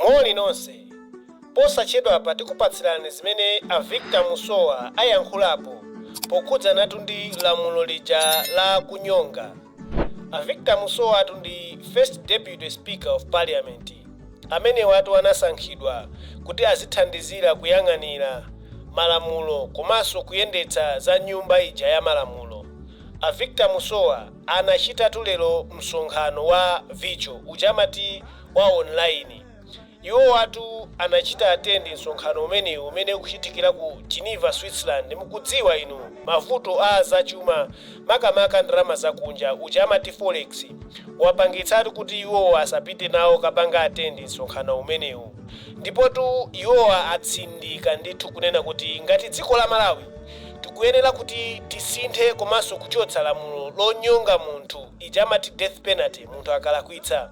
Moni nonse. Posachedwapa tikupatsirani zimene a Victor Musowa ayankhulapo pokhudzanatu ndi lamulo lija la kunyonga. A Victor Musowatu ndi First Deputy Speaker of Parliament. Amenewatu anasankhidwa kuti azithandizira kuyang'anira malamulo komanso kuyendetsa za nyumba ija ya malamulo. A Victor Musowa Anachitatu lero msonkhano wa virtual uja amati wa online. Iwowatu anachita attend msonkhano umenewu umene ukuchitikira ku Geneva, Switzerland. Mukudziwa inu mavuto a zachuma makamaka ndalama zakunja uja amati Forex wapangitsatu kuti iwowa asapite nawo kukapanga attend msonkhano umenewu. Ndipotu iwowa atsindika ndithu kunena kuti ngati dziko la Malawi tikuyenera kuti tisinthe komanso kuchotsa lamulo lonyonga munthu ija amati death penalty munthu akalakwitsa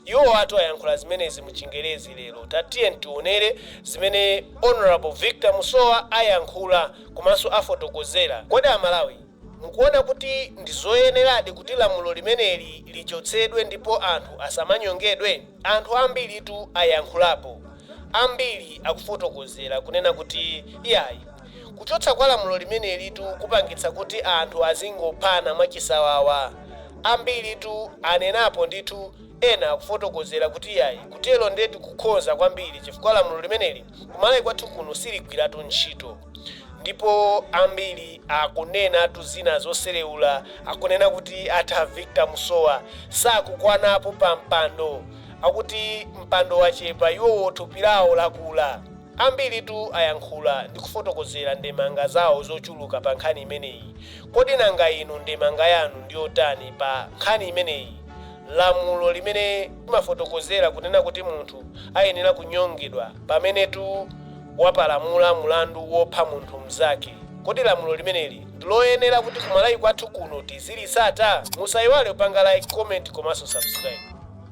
iwowatu ayankhula zimenezi mu chingerezi lero tatiye tionere zimene honorable victor musowa ayankhula komanso afotokozera kodi amalawi mukuona kuti ndi zoyeneradi kuti lamulo limeneli lichotsedwe ndipo anthu asamanyongedwe anthu ambiritu ayankhulapo ambiri akufotokozera kunena kuti iyayi Kuchotsa kwa lamulo limenelitu kupangitsa kuti anthu azingophana mwachisawawa. Ambiritu anenapo ndithu, ena akufotokozera kuti iyayi kutero ndetu nkukhoza kwambiri chifukwa lamulo limeneli ku Malawi kwathu kuno siligwiratu ntchito. Ndipo ambiri akunenatu zina zosereula, akunena kuti atha Victor Musowa sakukwanapo pa mpando, akuti mpando wachepa iwowo thupi lawo lakula. Ambiritu ayankhula ndi kufotokozera ndemanga zawo zochuluka pa nkhani imeneyi. Kodi nanga inu ndemanga yanu ndi yotani pa nkhani imeneyi, lamulo limene limafotokozera kunena kuti munthu ayenera kunyongedwa pamenetu wapalamula mulandu wopha munthu mnzake? Kodi lamulo limeneli ndi loyenera kuti ku Malawi kwathu kuno tizilitsata? Musaiwale kupanga like, comment komanso subscribe.